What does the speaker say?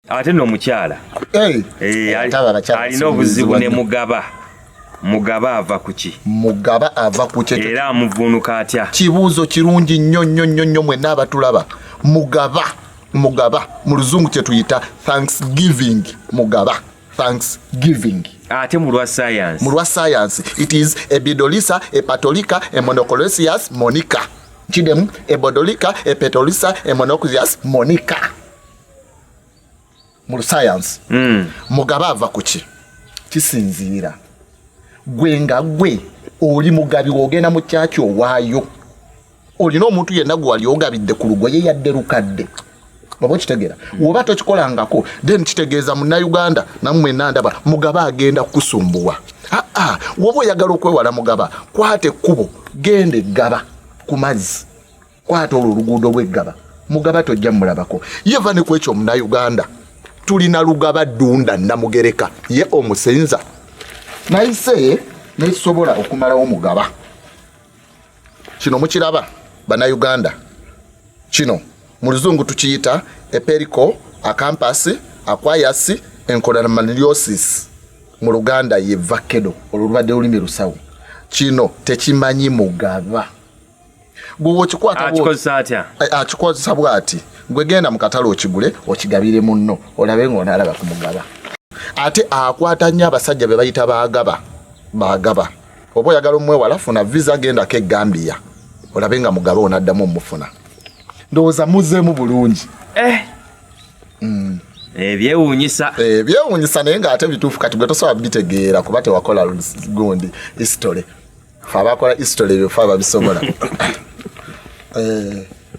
ate no mukyala eh hey. hey, ali no buzibu ne mugaba mugaba ava kuki mugaba ava kuki era amuvunuka atya kibuzo kirungi nnyo nnyo nnyo nnyo mwe nabatulaba mugaba mugaba mu luzungu kye tuyita thanksgiving mugaba thanksgiving ate mu lwa science mu lwa science it is ebidolisa epatolika emonocolesius monica kidemu ebodolika epetolisa emonocolesius monica mu sayansi mm. mugabe ava ku ki kisinziira gwe nga gwe oli mugabi wogenda mu kyaki owaayo olina omuntu yenna gwe wali ogabidde ku lugoye yadde lukadde oba okitegeera woba tokikolangako then kitegeeza munauganda namwe nandaba mugaba agenda kukusumbuwa aa woba oyagala okwewala mugaba kwata ekkubo genda eggaba ku mazzi kwata olwo oluguudo lweggaba mugaba tojja mulabako ye va ne ku ekyo omunauganda tulina lugaba dunda namugereka ye omusenza nayise nekisobola okumalawo mugaba kino mukiraba banauganda kino mu luzungu tukiyita eperiko akampasi akwayasi enkolamaniliosis mu luganda ye vakedo olwo lubadde lulimi lusawo kino tekimanyi mugaba gwewokikwatakikozesa bwati gwegenda mukatale okigule okigabire munno olabe nga onalaba kumugaba ate akwata nnyo abasajja bebayita bagaba bagaba oba oyagala omwewala funa visa gendako egambiya olabe nga mugaba onaddamu omufuna ndowooza muzemu bulungi eh. mm. ebyewunyisa eh, ebyewunyisa eh, naye nga ate bituufu kati gwe tosobola bitegeera kuba tewakola gundi history fe abakola history ebyo fe ababisobola eh.